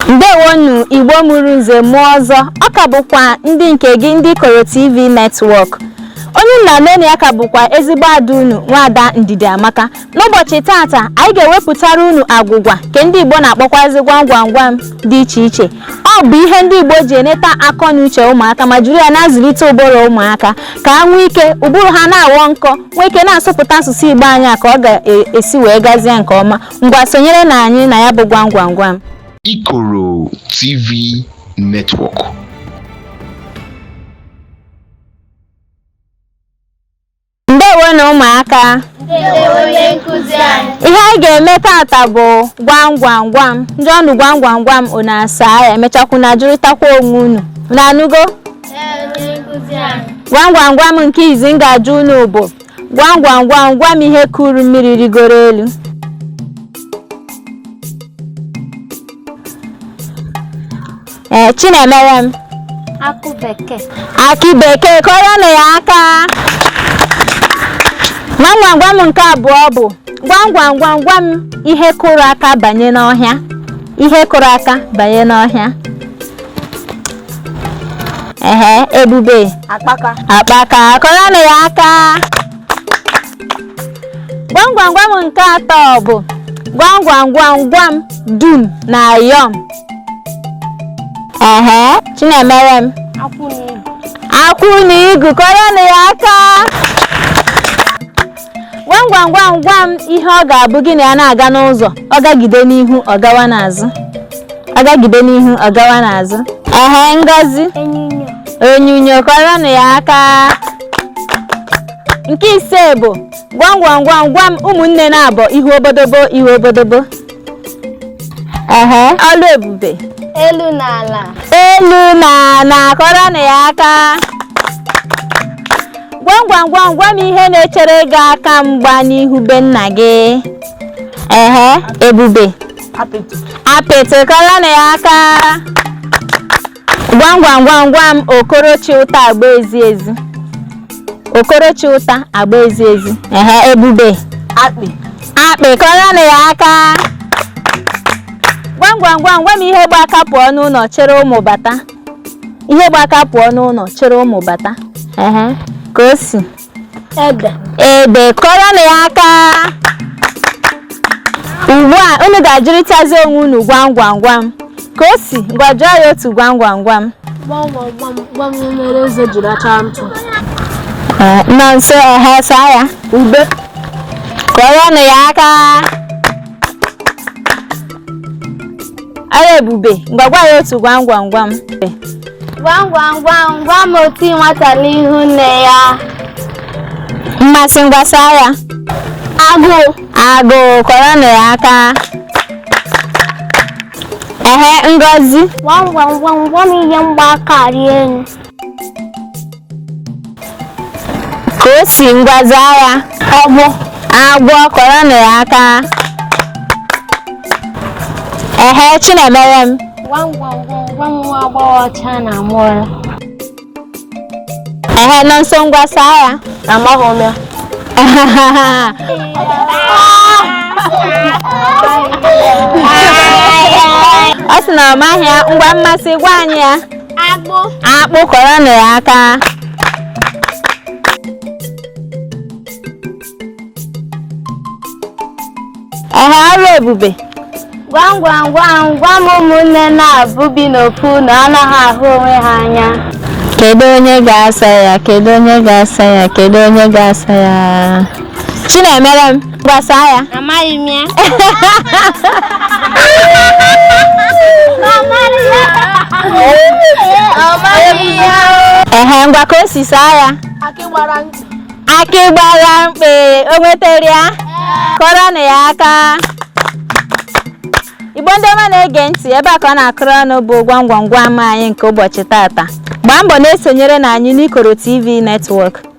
ndewonu igbo mụrụ nze mụọ ọzọ ọ ka bụkwa ndị nke gị ndị ikoro tv network onye nna nene ya ka bụkwa ezigbo ada unu nwaada ndidiamaka n'ụbọchị tata anyị ga-ewepụtara unu agwụgwa nke ndị igbo na-akpọkwazi gwam gwam gwam dị iche iche ọ bụ ihe ndị igbo ji eneta akọ na uche ụmụaka ma jiri ya na-azụlite ụbụrụ ụmụaka ka ha nwee ike ụbụrụ ha na-aghọ nkọ nwee ike na-asụpụta asụsụ igbo anyị a ka ọ ga-esi wee gazie nke ọma Ngwa sonyere na anyị na ya bụ gwam gwam gwam. Ikoro TV Network. Ndewonu ụmụaka ihe anyị ga-eme tata bụ gwam gwam gwam m jụọ unu gwam gwam gwam unu asaa ya e mechakwa unu ajụrịtakwa onwe unu unu anụgo gwam gwam gwam nke izi m ga-ajụ unu bụ Gwam gwam gwam gwa m ihe kuru mmiri rigoro elu. Ee, Chinemerem. Akụ bekee. Akị bekee kụọrọnụ ya aka. Gwam gwam gwam nke abụọ bụ gwam gwam gwam gwa m ihe kụrụ aka banye n'ọhịa. Ihe kụrụ aka banye n'ọhịa. ehe ebube akpaka akpaka kụọrọnụ ya aka gwam gwam gwam nke atọ bụ gwam gwam gwam gwa m dum na yọm ehe chinemerem akwụ na igu kụọrọnụ ya aka gwam gwam gwam gwa m ihe ọ ga-abụ gị na ya na-aga n'ụzọ ọ gagide n'ihu ọ gawa n'azụ ọ gagide n'ihu ọ gawa n'azụ ehe ngozi Onyinyo. onyinyo kụọrọnụ ya aka nke ise bụ gwam gwam gwam gwa m ụmụnne naabọ ihu obodobo ihu obodobo ehe ọlụebube elu na ala elu na ala kụọrọnụ ya aka gwam gwam gwam gwa m ihe na-echere gị aka mgba n'ihu be nna gị ehe ebube apịtị kụọrọnụ ya aka gwam gwam gwam gwa m okoro chị ụta agba ezi ezi okoro chị ụta agba ezi ezi ehe ebube akpị akpị kụọrọnụ ya aka gwam gwam gwam gwa m ihe gba aka pụọ n'ụlọ chịrị ụmụ bata ihe gba aka pụọ n'ụlọ chịrị ụmụ bata ehe kaosi ede ede kụọrọnụ ya aka ugbu a unu ga-ajụrịtazi onwe unu gwam gwam gwam kaosi ngwa jụọ ya otu gwam gwam gwam gwam mere eze ji racha ntụ nọnso ngwa saa ya ube kụọrọnụ ya aka ọrụebube ngwa gwa ya otu gwam gwam gwam Gwam gwam gwam gwam oti nwata n'ihu nne ya. Mmasị ngwa saa ya. Agụụ. Agụụ kụọrọnụ ya aka. Ehe ngozi. Gwam gwam gwam gwam ihe gba aka rịa enu. kaosi ngwa zaa ya agwọ agwọ kụọrọnụ ya aka ehe chinemerem Gwam gwam gwam gwam nwa agbọghọ ọcha na amụọla. ehe nọnso ngwa saa ya Amaghị m ya. ọ sị na ọ maghị ya ngwa mmasị gwa anyị ya akpụ akpụ kụọrọnụ ya aka ehe ọrụebube gwam gwam gwam gwam ụmụnne naabọ bi n'ofu ụnọ anaghị ahụ onwe ha anya kedu onye ga-asa ya kedu onye ga-asa ya kedu onye ga-asa ya chinemerem Ngwa saa ya. Amaghị m ya. Ehe, ngwa Kaosi saa ya. Akị gbara mkpị. Akị gbara mkpị, o nwetara ya? Kụọrọnụ ya aka. Igbo ndị ọma na-ege ntị ebe a ka ọ na-akụrụ ọnụ bụ gwam gwam gwam anyị nke ụbọchị tata. Gbaa mbọ na-esonyere na anyị n'Ikoro TV Network.